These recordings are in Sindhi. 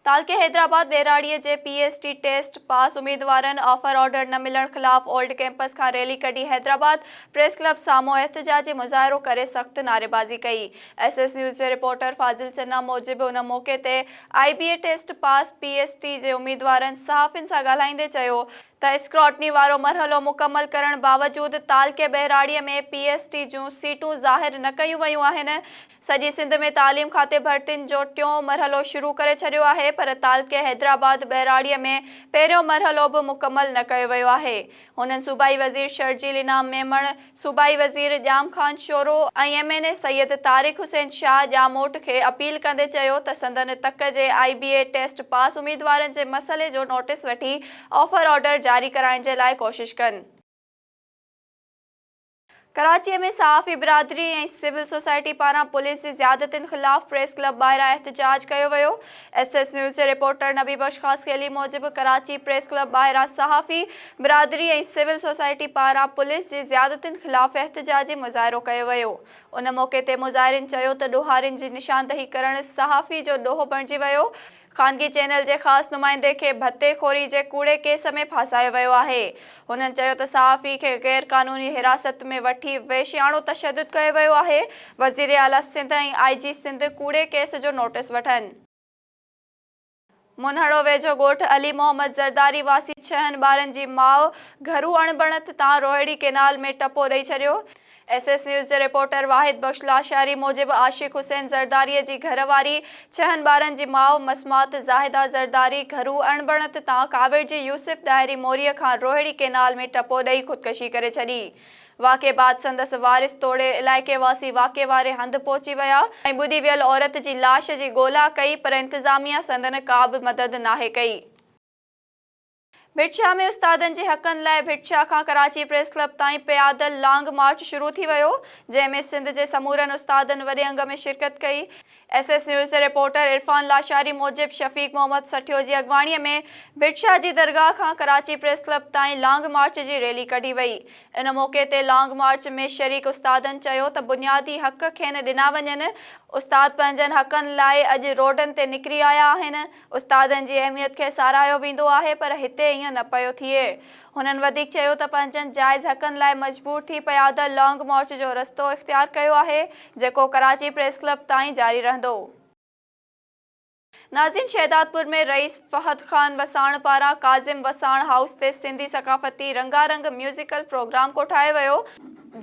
تعلقي حيدرآباد ٻهراڙيء جي P S T test pass اميدوارن آفر آرڊر نه ملڻ خلاف اولڊ ڪيمپس کان ريلي ڪڍي حيدرآباد پريس ڪلب سامهون احتجاجي مظاهرو ڪري سخت نعريبازي ڪئي ايس ايس نيوز جي رپورٽر فاضل چنا موجب ان موقعي تي I B A test pass P S T جي اميدوارن صحافين سان ڳالهائيندي چيو ته اسڪراٽني وارو مرحلو مڪمل ڪرڻ باوجود تعلقي ٻهراڙي ۾ پي ايس ٽي جون سيٽون ظاهر نه ڪيون ويون آهن، سڄي سنڌ ۾ تعليم کاتي ڀرتين جو ٽيون مرحلو شروع ڪري ڇڏيو آهي پر تعلقي حيدرآباد ٻهراڙي ۾ پهريون مرحلو به مڪمل نه ڪيو ويو آهي، هنن صوبائي وزير شرجيل انعام ميمڻ. صوبائي وزير Jam Khan Shoro ۽ M N A Syed Tariq Hussain Shah Jamot کي اپيل ڪندي چيو ته سندن تڪ جي آء بي اي ٽيسٽ پاس اميدوارن جي مسئلي جو نوٽيس وٺي آفر آرڊر جاري ڪرائڻ جي لاء ڪوشش ڪن. ڪراچي ۾ صحافي برادري ۽ سول سوسائٽي پاران پوليس جي زيادتين خلاف پريس ڪلب ٻاهران احتجاج ڪيو ويو. ايس ايس نيوز جي رپورٽر نبي بخش خاصخيلي موجب ڪراچي پريس ڪلب ٻاهران صحافي برادري ۽ سول سوسائٽي پاران پوليس جي زيادتين خلاف احتجاجي مظاهرو ڪيو ويو ان موقعي تي مظاهرين چيو ته ڏوهارين جي نشاندهي ڪرڻ صحافي جو ڏوهه بڻجي ويو خانگي چينل جي خاص نمائندي کي ڀتي خوري جي ڪوڙي ڪيس ۾ ڦاسايو ويو آهي. هنن چيو ته صحافي کي غير قانوني حراست ۾ وٺي وحشياڻو تشدد ڪيو ويو آهي، وزير اعليٰ سنڌ ۽ آء جي سنڌ ڪوڙي ڪيس جو نوٽيس وٺن. منهڙو ويجهو ڳوٺ علي محمد زرداري واسي ڇهن ٻارن جي ماء گهرو اڻبڻت تان روهيڙي ڪينال ۾ ٽپو ڏئي ڇڏيو، ايس ايس نيوز جي رپورٽر واحد بخش لاشاري موجب عاشق حسين زرداري جي گهر واري، ڇهن ٻارن جي ماء مسمات زاهده زرداري گهرو اڻبڻت تان ڪاوڙجي يوسف ڏاهري موري کان روهڙي ڪينال ۾ ٽپو ڏئي خودڪشي ڪري ڇڏي. واقعي بعد سندس وارث توڙي علائقي واسي واقعي واري هنڌ پهچي ويا ۽ ٻڏي ويل عورت جي لاش جي ڳولا ڪئي پر انتظاميا سندن ڪابه مدد ناهي ڪئي. ڀٽ شاهه ۾ استادن جي حقن لاء ڀٽ شاهه کان ڪراچي پريس ڪلب تائين پيادل لانگ مارچ شروع ٿي ويو، جنهن ۾ سنڌ جي سمورن استادن وڏي انگ ۾ شرڪت ڪئي. ايس ايس نيوز جي رپورٽر عرفان لاشاري موجب شفيق محمد سٺيو جي اڳواڻي ۾ ڀٽ شاهه جي درگاهه کان ڪراچي پريس ڪلب تائين لانگ مارچ جي ريلي ڪڍي وئي. ان موقعي تي لانگ مارچ ۾ شريڪ استادن چيو ته بنيادي حق کين ڏنا وڃن، استاد پنهنجن حقن لاء اڄ روڊن تي نڪري آيا آهن، استادن جي اهميت کي ساراهيو ويندو آهي پر هتي ائين نه پيو ٿئي. هنن وڌيڪ چيو ته پنهنجن جائز حقن لاء مجبور ٿي پيادل لانگ مارچ جو رستو اختيار ڪيو آهي جيڪو ڪراچي پريس ڪلب تائين جاري رهندو. نازين شهدادپور ۾ رئيس فهد خان وساڻ پاران ڪاظم وساڻ هائوس تي سنڌي ثقافتي رنگارنگ ميوزيڪل پروگرام ڪوٺايو ويو،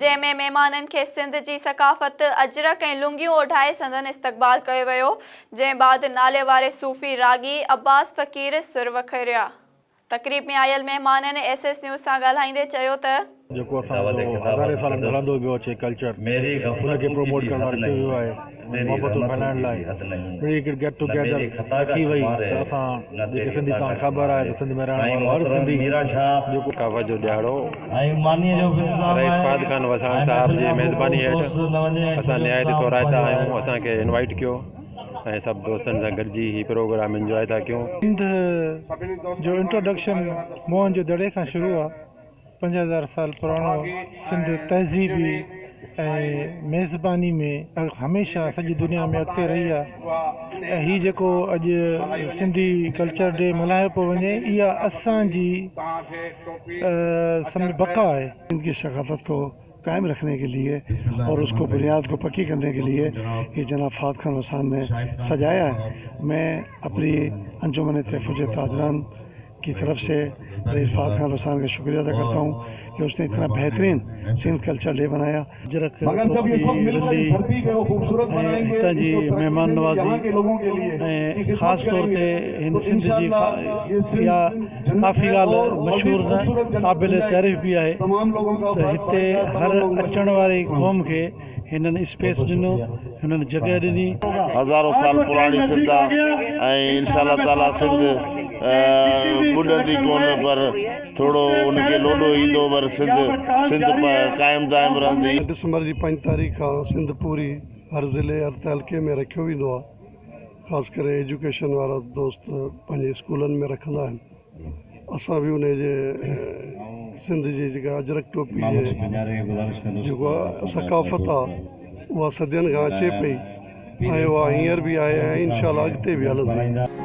جنهن ۾ مهمانن کي سنڌ جي ثقافت اجرڪ ۽ لنگيون اوڍائي سندن استقبال ڪيو ويو جنهن بعد ناليواري صوفي راڳي عباس فقير سر وکريا تقريب ۾ آيل مهمانن ايس ايس نيوز سان ڳالهائيندي چيو ته. جيڪو اسان جو هزارين سالن کان هلندو پيو اچي ڪلچر ان کي پروموٽ ڪرڻ لاء رکيو ويو آهي. محبتون بنائڻ لاء اهڙي هڪڙي گيٽ ٽو گيدر رکي وئي ته اسان جيڪي سنڌي توهان کي خبر آهي ته سنڌ ۾ رهڻ وارو هر سنڌي جيڪو ثقافت جو ڏهاڙو رئيس فهد خان وساڻ صاحب جي ميزباني هيٺ اسان نهايت ٿورائتا آهيون اسان کي انوائيٽ ڪيو ۽ سڀ دوستن سان گڏجي هي پروگرام انجواء ٿا ڪيون. سنڌ جو انٽروڊڪشن موهن جو دڙي کان شروع آهي پنج هزار سال پراڻو سنڌ تهذيبي ۽ ميزباني ۾ هميشه سڄي دنيا ۾ اڳتي رهي آ ۽ هي جيڪو اڄ سنڌي ڪلچر ڊي ملهايو پيو وڃي اها اسانجي سنڌ جي بقا آهي. سنڌ جي ثقافت کي قائم رکني ڪي ليي اور اس ڪو بنياد ڪو پڪي ڪرني ڪي ليي يي جناب فهد خان وسان ني سجايا هي مين اپني انجمن تحفظ تاجران ڪي طرف سي رئيس فهد خان وسان ڪي شڪريه ادا ڪرتا هون ڪي اس ني اتنا بهترين سنڌ ڪلچر ڊي بنايا اجرڪ ٽوپي رلي ۽ هتان جي مهمان نوازي ۽ خاص طور تي هن سنڌ جي اها ڪافي ڳالهه مشهور نه قابل تعريف به آهي ته هتي هر اچڻ واري قوم کي هنن اسپيس ڏنو هنن جڳهه ڏني. هزارون سال پراڻي سنڌ آ ۽ انشاء الله تعالي سنڌ ٻڏندي ڪون پر ٿورو ان کي لوڏو ايندو پر سنڌ سنڌ قائم دائم رهندي. ڊسمبر جي پنج تاريخ کان سنڌ پوري هر ضلعي هر تعلقي ۾ رکيو ويندو آ. خاص ڪري ايجوڪيشن وارا دوست پنهنجي اسڪولن ۾ رکندا آهن اسان به انهي جي سنڌ جي جيڪا اجرڪ ٽوپي جي جيڪو آهي ثقافت آهي اها صدين کان اچي پئي ۽ اها هينئر به آهي ۽ انشاء الله اڳتي به هلندي